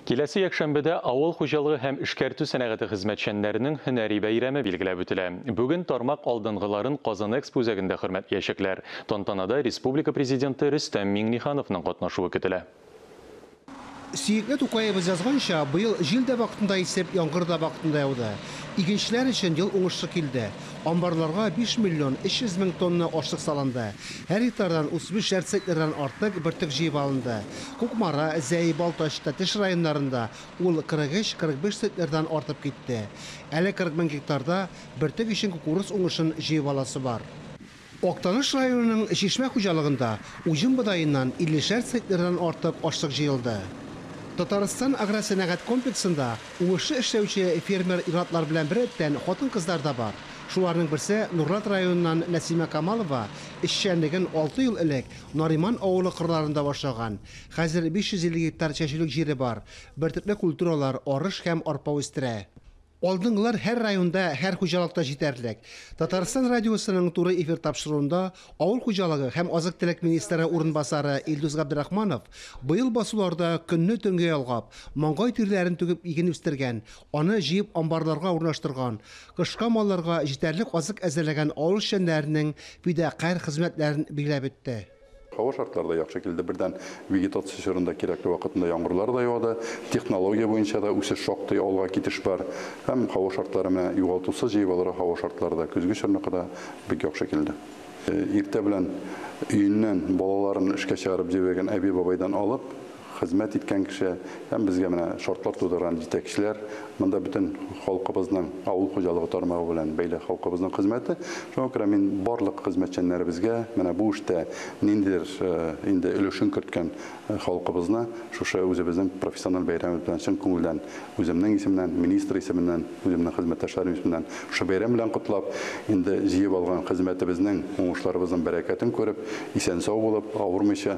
Киләсе якшәмбедә авыл хуҗалыгы һәм эшкәртү сәнәгате хезмәтчәннәренең һөнәри бәйрәме билгеләп үтелә. Бүген тармак алдынгыларын Казанэкспо үзәгендә хөрмәтлиячәкләр. Тантанада республика Президенты Рөстәм Миңнехановның катнашуы көтелә. Сөекле Тукаебыз язганча, быел җил дә вакытында исеп, яңгыр да вакытында яуды. Игенчеләр өчен ел уңышлы килде. Амбарларга 5 миллион 300 мең тонна ашлык салынды. Һәр гектардан 35 шәр центнердан артык бөртек җыеп алынды. Кукмара, Зәй, Балтач, Тәтеш районнарында ул 43-45 центнердан артып китте. Әле 40 мең гектарда бөртек өчен кукуруз уңышын җыеп аласы бар. Актаныш районының Чишмә хуҗалыгында уҗым бодаеннан иллешәр центнердан артык ашлык җыелды. Татарстан агросәнәгать комплексында уңышлы эшләүче фермер ир-атлар белән беррәттән хатын-кызлар да бар. Шуларның берсе Нурлат районыннан Нәсимә Камалова, эшчәнлеген алты ел элек Нариман авылы кырларында башлаган. Хәзер 550 гектар чәчүлек җире бар, бертөрле культуралар, арыш һәм арпа үстерә. Алдынгылар һәр районда, һәр хуҗалыкта җитәрлек. Татарстан радиосының туры эфир тапшыруында авыл хуҗалыгы һәм азык-төлек министры урынбасары Илдус Габдрахманов быел басуларда көнне-төнгә ялгап, маңгай тирләрен түгеп иген үстергән, аны җыеп амбарларга урнаштырган, кышка малларга җитәрлек азык әзерләгән авыл эшчәннәренең фидакарь хезмәтләрен билгеләп үтте. Һава шартлары да яхшы килде, бердән вегетация чорында кирәкле вакытында яңгырлар да яуды, технология буенча да үсеш шактый алга китеш бар һәм һава шартлары менә югалтусыз җыебалырга һава шартлары да көзге чорныкы да бик яхшы килде. Иртә белән өеннән балаларын эшкә чыгарып җибәргән әби-бабайдан алып, хезмәт иткән кеше һәм безгә менә шартлар тудырган җитәкчеләр, монда бөтен халкыбызның авыл хуҗалыгы тармагы белән бәйле халкыбызның хезмәте. Шуңа күрә мин барлык хезмәтчәннәребезгә менә бу эштә ниндидер инде өлешен керткән халкыбызны шушы үзебезнең профессиональ бәйрәмебез белән чын күңелдән үземнең исеменнән, министр исеменнән, үземнең хезмәттәшләрем исеменнән шушы бәйрәм белән котлап, инде җыеп алган хезмәтебезнең, уңышларыбызның бәрәкәтен күреп, исән-сау булып, авырмыйча,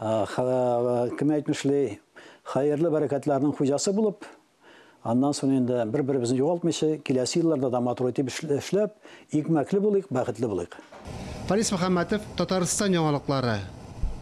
Кем әйтмешли, хәерле бәрәкәтләрнең хуҗасы булып, аннан соң инде бер-беребезне югалтмыйча, киләсе елларда да матур итеп эшләп, икмәкле булыйк, бәхетле булыйк. Фарис Мөхәммәтов, Татарстан яңалыклары.